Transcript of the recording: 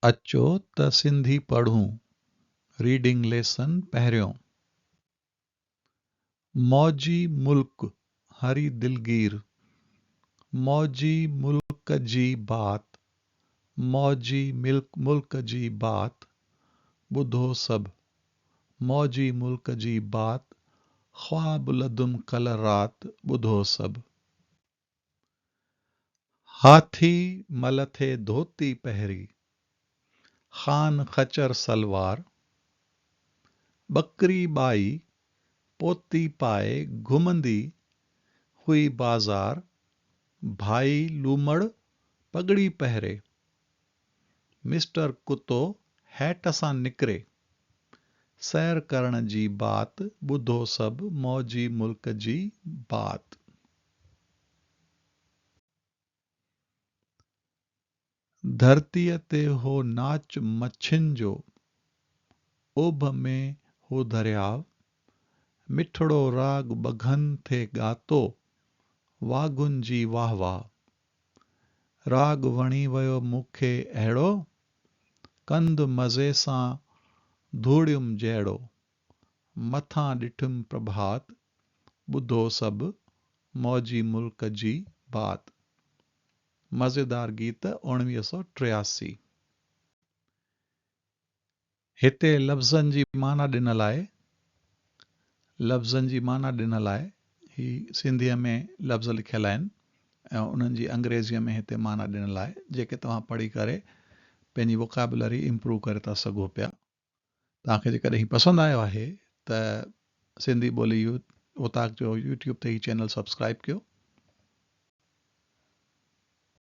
اچو ته سنڌي پڙهون، ريڊنگ ليسن پهريون. موجي ملڪ هري دلگير، موجي ملڪ جي بات، موجي ملڪ جي بات، ٻڌو سڀ، موجي ملڪ جي بات، خواب لدم ڪل رات، ٻڌو سڀ. هاٿي ملٿي ڌوتي پهري، خان خچر سلوار، ٻڪري ٻائي پوتي پائي گهمندي هئي بازار، ڀائي لومڙ پڳڙي پهري، مسٽر ڪتو هيٽ سان نڪري، سير ڪرڻ جي بات ٻڌو سڀ موجي ملڪ جي بات. ڌرتيء تي هو ناچ مڇين جو، اوڀ ۾ هو درياء، مٺڙو راڳ ٻگهن ٿي ڳاتو، واگهن جي واهه واهه. راڳ وڻي ويو مون کي اهڙو، ڪنڌ مزي سان ڌوڙيم جهڙو. مٿان ڏٺم پرڀات، ٻڌو سڀ موجي ملڪ جي بات. مزيدار گيت اوڻويهه سؤ ٽياسي. هتي لفظن جي معنيٰ ڏنل آهي. لفظن جي معنيٰ ڏنل آهي. هي سنڌيء ۾ لفظ لکيل آهن ۽ انهن جي انگريزيء ۾ هتي معنيٰ ڏنل آهي، جيڪي توهان پڙهي ڪري پنهنجي ووڪيبلري امپروو ڪري ٿا سگهو پيا. توهان کي جيڪڏهن هي پسند آيو آهي ته سنڌي ٻولي يوٿ اوطاق جو يوٽيوب تي هي چينل سبسڪرائب ڪيو.